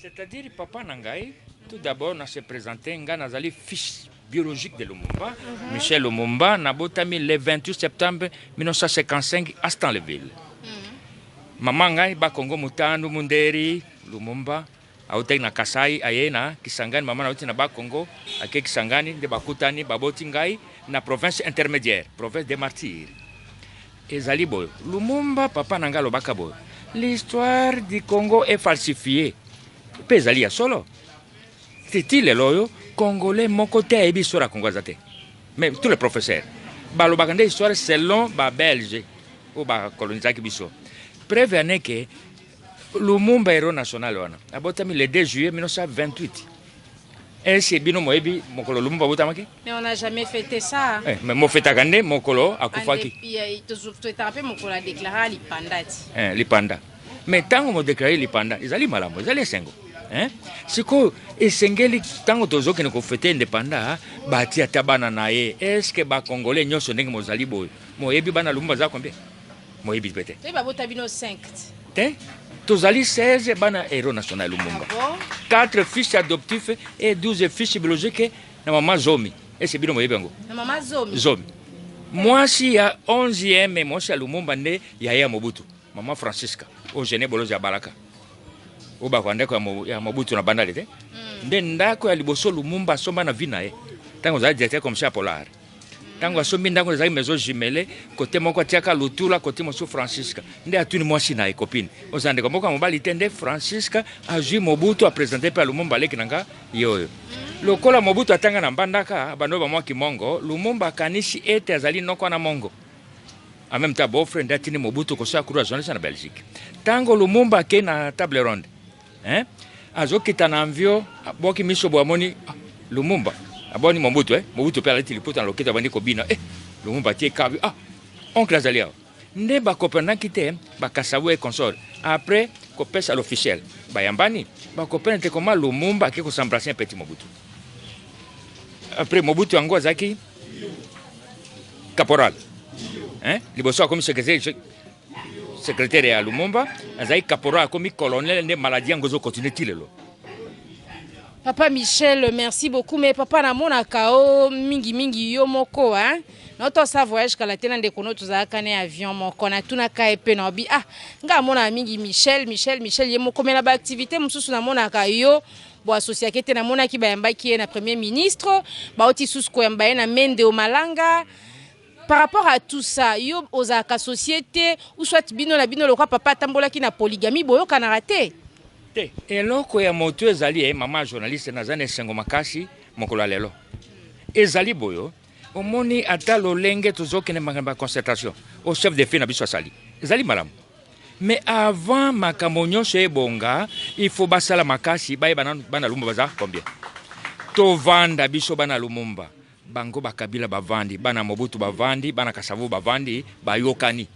C'est à dire papa na ngai tout d'abord na se presenter ngai nazali fils biologique de Lumumba, mm -hmm. Michel Lumumba, nabotami le 28 septembre 1955 à Stanleyville. Mm -hmm. Mama ngai ba Kongo Mutandu Munderi Lumumba autaki na Kasai aye na Kisangani, mama nauti na ba Kongo ake Kisangani nde bakutani baboti ngai na province intermédiaire, province des martyrs. Ezali boye Lumumba papa na nga alobaka boye l'histoire du Congo est falsifiée mpe ezali ya solo titi lelo oyo congolais moko te ayebi histoire ya Congo aza te mais tous les professeurs balobaka nde histoire selon ba belge oyo bakolonisaki biso preuve ane ke Lumumba hero national wana abotami le 2 juillet 1928 ese bino moyebi mokolo Lumumba abotamaki Mais on n'a jamais fêté ça. Eh, mais mo fetaka nde mokolo akufaki. Tofetaka mpe mokolo adeklaraka lipanda ti. Eh, lipanda. Mais ntango modeklare lipanda ezali malamu, ezali esengo. Eh? sikoyo esengeli ntango tozokende kofete independa bati ata bana na ye eske bakongole nyonso ndenge mozali boye moyebi bana lumu baza kombie moyebi mpe te te tozali 16 bana hero national lumumba 4 ah fils adoptif et 12 fils biologique na mama zomi ese bino boyebi yango na mama zomi zomi mwasi ya 11e mwasi ya lumumba nde yaye ya mobutu mama francisca oyo gene bolozi ya balaka oyo bakwa ndako ya mobutu na bandali te hmm. nde ndako ya liboso lumumba asomba na vi na ye ntango ozali directeur commissaire polar ntango asombi ndako ezalaki maison jumele kote moko atiaka lutula kote mosusu francisca nde atuni mwasi na ye copine oza ndeko moko ya mobali te nde francisca azwi mobutu apresente mpe alumumba aleki na nga ye oyo lokola mobutu atanga na mbandaka bando bamwa kimongo lumumba akanisi ete azali noko wana mongo en même temps beau frère nde atindi mobutu kosala kuru ya journaliste na belgique ntango lumumba akei na table ronde Hein? Azo kita na envio, boki miso bo amoni ah, Lumumba. Aboni Mobutu eh? Mobutu pe alati liputa na loketo abandi kobina eh Lumumba tie kabi ah oncle azali awa. Nde ba comprenaki te ba Kasavu et consort. Après kopesa l'officiel bayambani ba comprendre te comment Lumumba ake kosembrasser un petit Mobutu. Après Mobutu yango azalaki caporal. Hein? Liboso akomi secrétaire Secretaire ya Lumumba azali caporal akomi colonel nde maladie yango ezo continuer ti lelo. Papa Michel, merci beaucoup. Mais papa, na mona kao mingi mingi yo moko, hein. Notre sa voyage kala tena de kono tu za kane avion moko na tuna ka epe na obi. Ah, nga mona mingi Michel, Michel, Michel ye moko mais na ba activité mususu na mona ka yo bo associate te na mona ki ba yamba ki na premier ministre, ba oti susu ko yamba ye na mende o malanga. Par rapport à tout ça, yo ozalaka société ou soit bino na bino lokwa papa atambolaki na polygamie boyokanaka te? Te. Eloko ya moto ezali eh, mama journaliste naza na esengo makasi mokolo ya lelo. Ezali boyo omoni ata lolenge tozokende makambo ya concertation au chef de file na biso asali ezali malamu mais avant makambo nyonso ebonga il faut basala makasi bayeba nanu bana lumumba baza combien tovanda biso bana lumumba Bango ba kabila bavandi bana mobutu bavandi bana kasavubu bavandi bayokani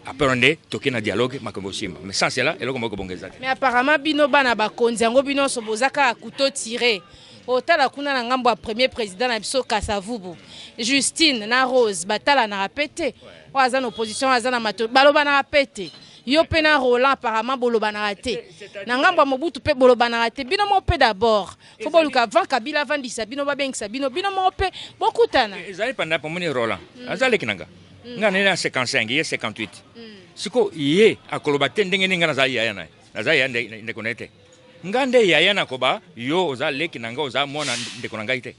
apres nde toke na dialogue makambo osimba mais sans cela eloko moko kobonga eza te Mais apparemment bino bana bakonzi yango bino nionso boza kaka couteau tire. Otala kuna na ngambo ya premier president na biso Kasa Vubu, Justine na Rose batalanaka pe te. Oyo aza na opposition oyo aza na Matolo balobanaka pe te. Yo pe na Roland apparemment bolobanaka te. Na ngambo ya Mobutu pe bolobanaka te. Bino moko pe d'abord fo boluka avant kabila avandisa bino babengisa bino bino moko mpe bokutana eh, ezali panda pomoni roland mm. aza leki na nga mm. nga nene ya 55 ye 58 mm. siko ye akoloba te ndenge nini nga nazali yaya na ye naza yaya ndeko na ye te nga nde yaya nakoba yo oza leki na nga oza mwana ndeko na ngai te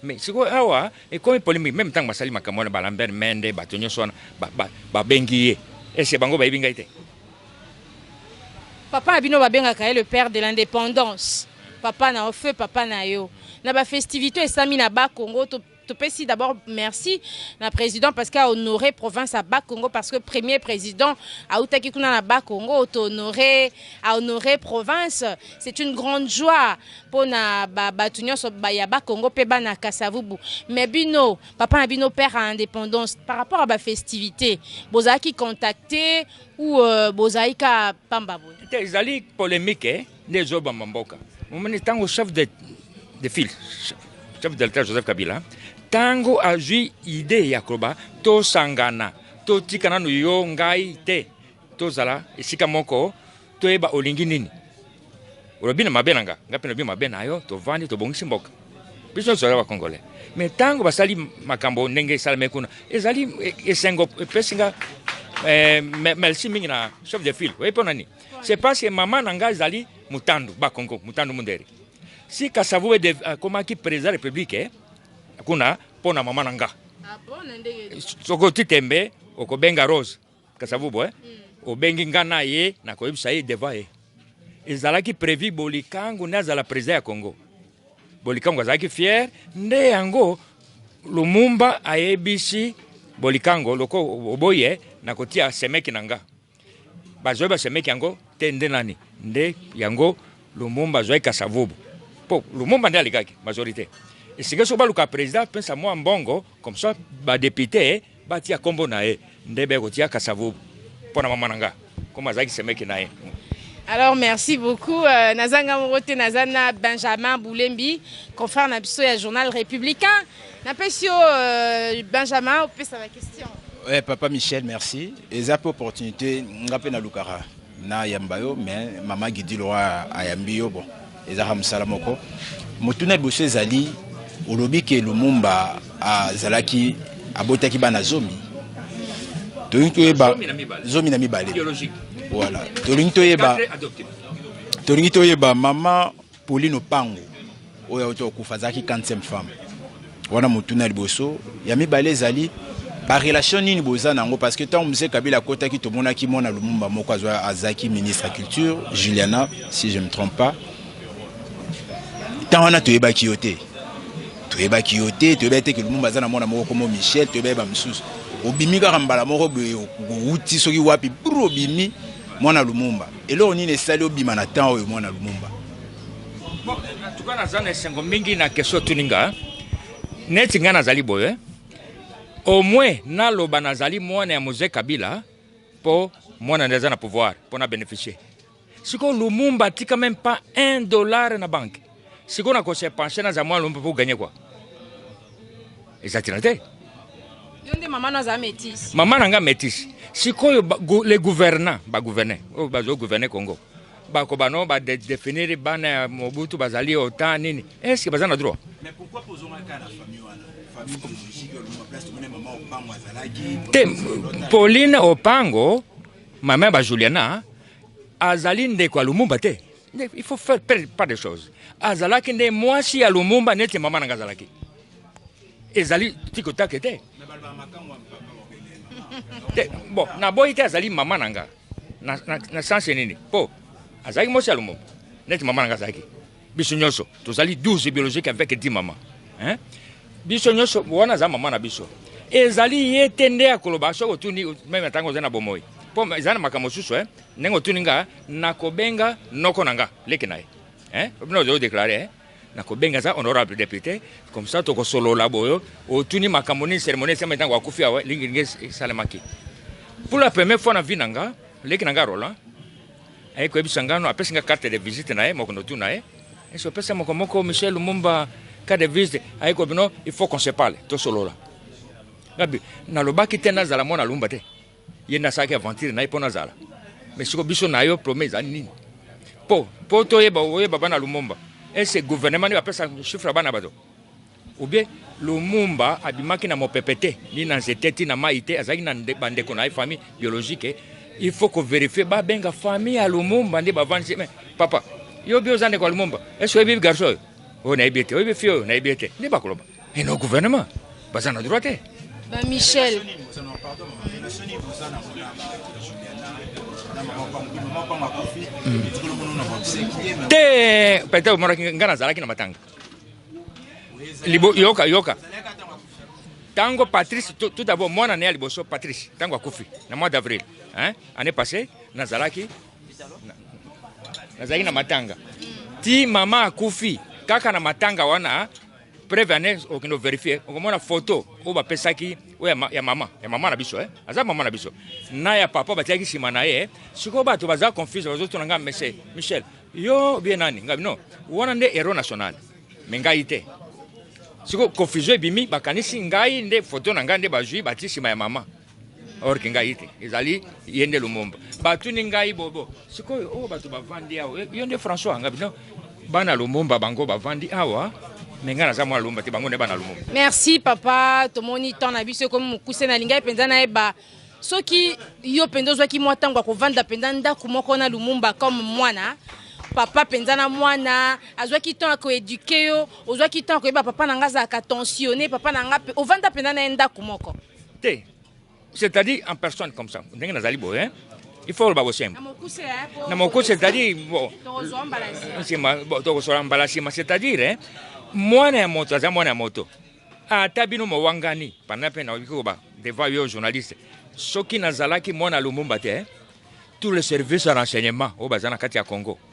Mais sikoyo awa ekomi polemique meme tango basali makambo wana ba Lambert Mende bato nyonso wana ba, ba, babengi ye ese bango bayebi ngai te Papa na bino babengaka ye le père de l'independance papa na yo feu papa na yo na ba festivités esami na ba Congo to topesi d'abord merci na président parce que a honore province ya Bas-Congo parce que premier président autaki kuna na Bas-Congo to honore a honore province c'est une grande joie pona ba batu nyonso ba ya ba Congo pe bana Kasavubu mais bino papa na bino père à indépendance par rapport à ba festivités bozalaki contacter ou euh, bozalaki ka pamba boye te ezali polemique eh, nde ezobamba mboka omoni ntango chef de, de file chef de l'etat joseph kabila ntango azwi idée ya koloba tosangana totika nanu yo ngai te Tozala esika moko toyeba olingi nini. Olobi na mabe na nga, nga mpe nalobi mabe na yo, tovandi tobongisi mboka. Biso nyonso toza bakongole. Me ntango basali makambo ndenge esalami kuna, ezali e, esengo epesi nga eh, merci mingi na chef de file. Oyebi mpo na nini? C'est parce que mama na nga ezali Mutandu Bakongo, Mutandu Mundere. Si Kasavubu akomaki président de la République, eh, kuna mpo na mama na nga. Ah bon, na ndenge. Soko titembe okobenga Rose. Kasavubu eh? Mm. Obengi nga na ye na koyebisa ye devant ye. Ezalaki prevu Bolikangu nde azala president ya Congo. Bolikangu azalaki fier nde yango Lumumba ayebisi Bolikango loko oboye na kotia semeki na nga. Bazoi ba semeki yango te nde nani? Nde yango Lumumba azoi Kasavubu. Po Lumumba nde alikaki majorite. Esika soki baluka president pesa mwa mbongo comme ça ba député Batia kombo na ye nde be kotia kasavubu mpo na mama na nga comme azalaki semeki na ye. Alors merci beaucoup euh, naza nga moko te naza na Benjamin Boulembi confrère na biso ya journal républicain napesi yo euh, Benjamin opesa ba question. Ouais, papa Michel merci eza mpe opportunité nga mpe nalukaka Na yamba yo mais maman Gidi Loi ayambi yo bon eza ka musala moko. Motuna liboso ezali olobi ke Lumumba azalaki abotaki bana zomi tolingi toyeba zomi na mibale voilà tolingi toyeba tolingi toyeba mama Pauline Opango oyo auti kokufa azalaki 45 femme wana motuna ya liboso. Ya mibale ezali barelation nini boza na yango parce que ntango mzee kabila akotaki tomonaki mwana lumumba moko azalaki ministre ya culture juliana si je me trompe pas ntango wana toyebaki yo te toyebaki yo te toyebaki te ke lumumba aza na mwana moko komo michel toyebaki bamosusu obimi kaka mbala moko boye owuti soki wapi bru obimi mwana lumumba Eloko nini esali obima na temps oyo mwana Lumumba? Bon, en tout cas naza na esengo mingi na question otuni nga neti ngai nazali boye au moins naloba nazali mwana ya mose kabila mpo mwana nde aza na pouvoir mpo na bénéficier sikoyo lumumba atika meme pas un dollar na banque sikoyo na kose penche naza mwana lombe mpo ganye kua eza ntina te yo nde mama no aza métise mama na nga métise sikoyo le gouvernant bagouverne oyo oh, bazogouverne congo bako bano badefinir bana ya mobutu bazali otan nini estce baza na droit te pauline opango mama ya bajuliana azali ndeko ya lumumba te Il faut faire pas de choses. Azalaki nde mwasi ya Lumumba neti mama nanga azalaki. Ezali tiko take te. Te, bon, na boyi te azali mama nanga. Na, na, na sens nini? Po, azalaki mwasi ya Lumumba neti mama nanga azalaki. Biso nyonso tozali 12 biologique avec 10 mama. Hein? Biso nyonso wana za mama na biso. Ezali ye te nde akoloba soki otuni meme tango ozali na bomoi. Po ezali na makambo mosusu, hein? Ndenge otuni nga nakobenga noko na nga leki na ye eh? Bino ozo declare eh? nakobenga za honorable député comme ça tokosolola boyo otuni makambo nini cérémonie esalema ntango akufi awa lingilingi esalemaki pour la première fois na vie na nga leki na nga roland aye koyebisa nga no apesi nga carte de visite na ye mokondo tu na ye esi opesa moko moko michel lumumba carte de visite aye ko bino il faut qu'on se parle tosolola ngabi nalobaki te nazala mwana lumumba te Ye nde asalaki aventure na ye mpo nazala me siko biso na yo prome eza nini mpo mpo toyeba oyeba bana lumumba ese gouvernement nde bapesa chiffre ya bana bato obie lumumba abimaki na mopepe te ni na nzete ti na mai te azalaki na bandeko na ye famille biologique il faut koverifie babenga famille ya lumumba nde bavandisi me papa yo bi oza ndeko ya lumumba ese oyebi garso oyo oyo nayebi ete oyebi fie oyo nayebi ete nde bakoloba et nos gouvernements baza na droit te ba michel te peut-être omonaki ngai nazalaki na matanga yoka yoka ntango patrice tout d'abord mwana na ye ya liboso patrice ntango akufi na mois d'avril année passé nazalaki nazalaki na matanga ti mama akufi kaka na matanga wana preuve ya nez okende overifie okomona foto oyo bapesaki oyo ya mama ya mama na biso eh? aza mama na biso na ya papa batiaki nsima na ye sikoyo bato baza confuse bazotuna ngai mese michel yo bie nani ngai no wana nde hero national me ngai te sikoyo confusion ebimi bakanisi ngai nde foto na ngai nde bazwi batie nsima ya mama or ke ngai te ezali ye nde lumumba batuni ngai bobo sikoyo oyo oh, bato bavandi awa eh, yo nde françois anga bino bana lumumba bango bavandi awa me ngai naza mwana lumumba te bango nde bana lumumba merci papa tomoni temps na biso ekomi mokuse nalingai mpenza nayeba soki yo mpenza ozwaki mwa ntango ya kovanda mpenza ndako moko na lumumba comme mwana papa mpenza na mwana azwaki temps ya koeduke yo ozwaki temps ya koyeba papa na ngai azalaka tensionne papa na ngai ovanda mpenza na ye ndako moko te c'est-à-dire en personne comme ça ndenge nazali boye hein? il faut oloba bosembo na moko c'est-à-dire nsima tokosola mbala nsima c'est-à-dire hein, mwana ya moto aza mwana ya moto ata bino mowangani panda mpe nakoki koba devant yo journaliste soki nazalaki mwana lumumba te hein, tout le service ya renseignement oyo baza na kati ya congo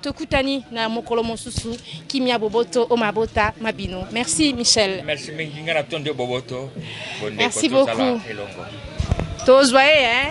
Tokutani na mokolo mosusu. Kimia boboto o mabota ma bino. Merci Michel. Merci mingi nga na tondi boboto. Merci beaucoup. Tozwa ye hein.